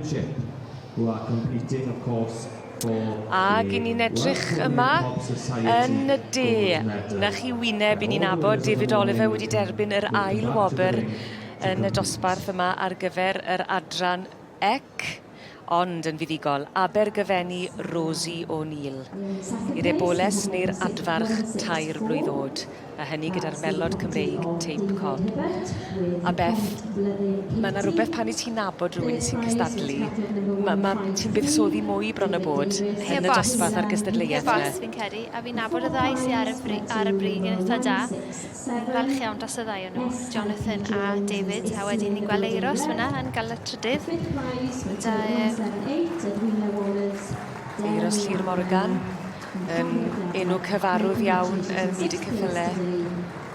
Chip, who are competing of course for Ag i ni'n edrych yma yn y de, na chi wyneb, i ni'n abod David Oliver wedi derbyn yr ail wobr yn y dosbarth yma ar gyfer yr adran ec, ond yn fuddugol, Abergyfenni Rosie O'Neill, i'r eboles neu'r adfarch tair blwydd oed. a hynny gyda'r melod Cymreig Tape Cob. A Beth, mae yna rhywbeth pan i ti'n nabod rhywun sy'n cystadlu, mae ma, ti'n buddsoddi mwy bron y bod yn y dosbarth a'r gystadleuaeth. Ie, bos, fi'n credu, a fi'n nabod y ddau sy'n ar y, bri, ar y brig yn eitha da. Fi'n falch iawn dros y ddau o'n nhw, Jonathan a David, a wedyn ni'n gweld Eiros fyna yn gael y trydydd. Da, e... Eiros Llyr Morgan. yn enw cyfarwydd iawn yn byd y ceffyle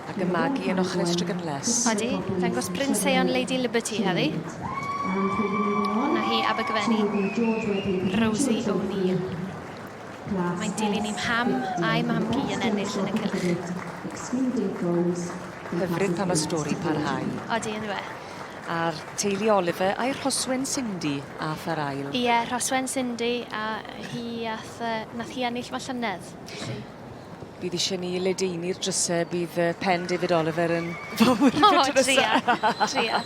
ac yn magu yn ochr Estrig yn les. Odi, dangos Bryn Seion Lady Liberty heddi. Hwna hi Abergyfenni, Rosie O'Neill. Mae'n dilyn i'm ham a'i mam-gu yn ennill yn y cylch. Hyfryd pan mae stori parhau. Odi, yn dweud. A'r teulu Oliver a'i rhoswen Cindy ath ar ail. Ie, rhoswen Cindy a hi ath Nath yy nath hi ennill fy llynedd. Felly... Bydd isie ni ledaenu'r dryse bydd yy pen David Oliver yn fawr yn y dryse. O, tria,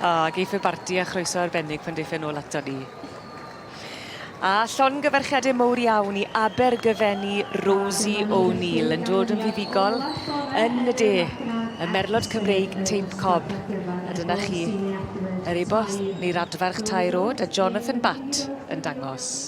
O, geith y barti a chroeso arbennig pan deiff e nôl ato ni. A llongyfarchiadau mowr iawn i Abergyfenni Rosie O'Neill yn dod yn fuddugol yn y de, y merlod Cymreig teip cob. A dyna chi yr e-bost neu'r adfarch tair oed a Jonathan Batt yn dangos.